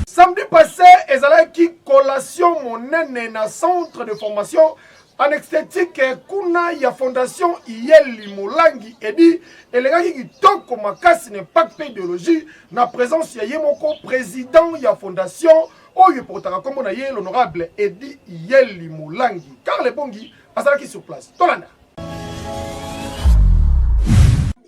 Samedi passé ezalaki collation monene na centre de formation en esthétique kuna ya fondation Iyeli Molangi edi elekaki kitoko makasi na impact mpe ideologie na présence ya ye moko président ya fondation oyo epotaka nkombo na ye l'honorable Edi Iyeli Molangi Karl Ebongi azalaki sur place tolanda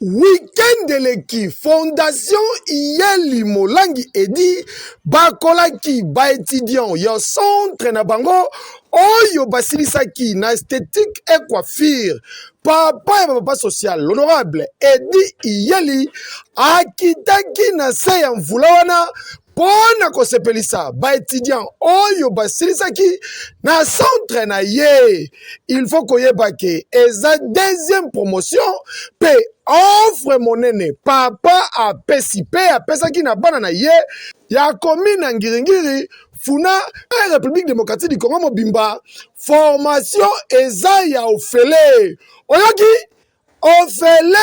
Week-end eleki, Fondation Iyeli Molangi Edi bakolaki ba etudiants ya centre na bango oyo basilisaki na esthétique et coiffure. Papa ya papa social, l'honorable Edi Iyeli akitaki na se ya mvula wana mpo na kosepelisa baetudiant oyo basilisaki na centre na ye il faut koyeba ke eza deuxième promotion mpe offre monene papa apesi mpe apesaki na bana na ye ya komine ya ngiringiri funa e république démocratique du congo mobimba formation eza ya ofele oyoki ofele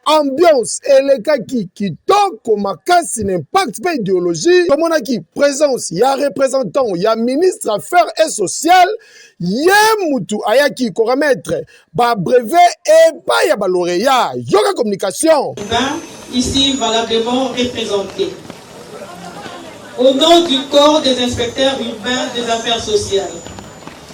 ambiance elekaki kitoko makasi na impact mpe ideologie tomonaki présence ya représentant ya ministre affaires et sociale ye mutu ayaki koremettre babrevet epai ya baloreya yoka communication ici valablement représenté au nom du corps des inspecteurs urbains des affaires sociales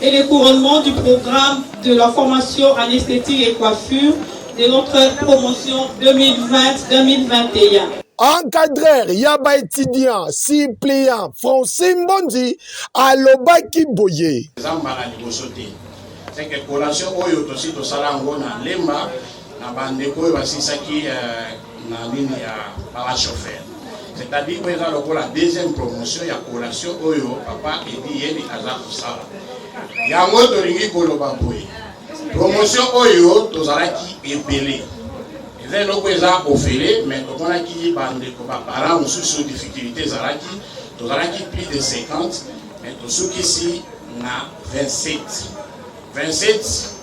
et le couronnement du programme de la formation en esthétique et coiffure de notre promotion 2020-2021. Encadreur ya ba étudiant suppléant Francine Mbondi alobaki boye. Eza mbala liboso te. C'est que collation oyo tosi tosala yango na Lemba na bandeko oyo basilisaki euh, na nini ya baba chauffeur c'est-à-dire oyo eza lokola deuxième promotion ya collation oyo papa edi yeli aza kosala yango tolingi koloba boye promotion oyo tozalaki ebele eza eloko eza ofele mais tomonaki bandeko baparent mosusu difficulté ezalaki tozalaki plus de 50 mais tosukisi na 27 27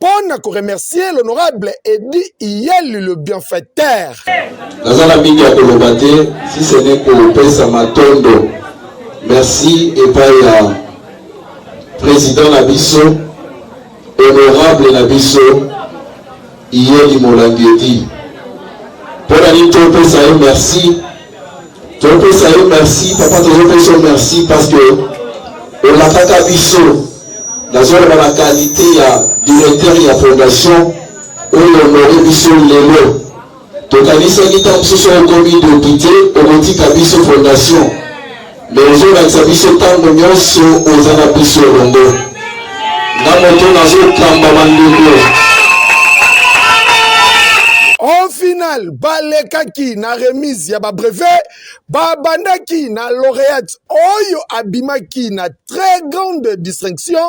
pona ko remercier l'honorable Eddy Iyelu le bienfaiteur. Naza na mingi ya koloba te si ce n'est kopesa matondo merci epai ya président na biso honorable na biso Iyeli Molangi Eddy. Pona nini topesa ye merci topesa yo merci papa tozopesa yo merci parce que olakaka biso nazoloba na kalite ya directeur ya fondation oyo onore biso lelo tokanisaki ntango mosusu okomi depute okotika biso fondation Mais ozolakisa biso tango nyonso oza na biso elongo. Nga moto nazokamba bandeko. Au final, balekaki na remise ya ba brevet, babandaki na laureate oyo abimaki na très grande distinction,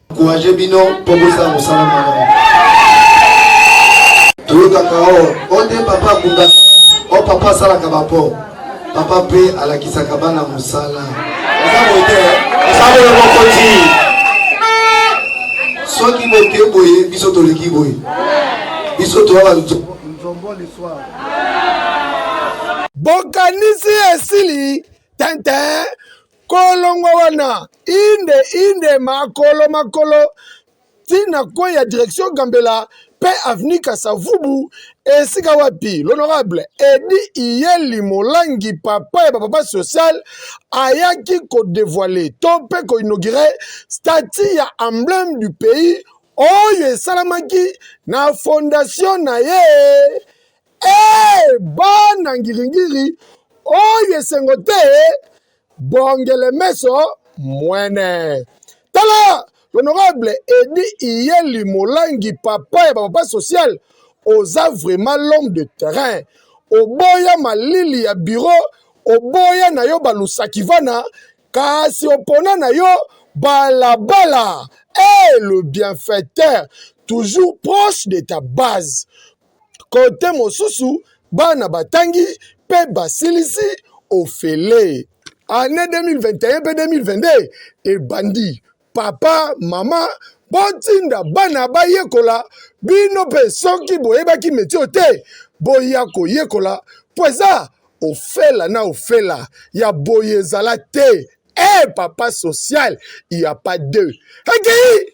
Encouragez bino pour vous ça vous salam alaikum. Toyokaka o o nde papa akunda o oh, papa asalaka bapo papa mpe alakisaka bana mosala eza boye te osabolo mokonzi soki boke boye biso toleki boye biso toya banzombo liswa bokanisi esili tenten kolongwa wana inde inde makolo makolo ntina kwe ya direction gambela mpe avenue kasavubu esika wapi l'honorable edi iyeli molangi papa ya bapapa social ayaki kodevoile to mpe koinaugure statut ya emblème du pays oyo esalamaki na fondation na ye Ee, bana ngiringiri oyo esengo te bongele meso mwene tala l'honorable edi iyeli molangi papa ya bapapa social oza vraiment l'homme de terrain oboya malili ya biro oboya na yo balusakivana kasi opona na yo balabala e le bienfaiteur toujours proche de ta base Kote mosusu, bana batangi mpe basilisi ofele. Annee 2021 mpe 2022 ebandi. Papa, mama, botinda bana bayekola. Bino mpe soki boyebaki meti oyo te, boya koyekola mpo eza ofela na ofela ya boye ezala te. Eh papa social, il n'y a pas deux. Ekei!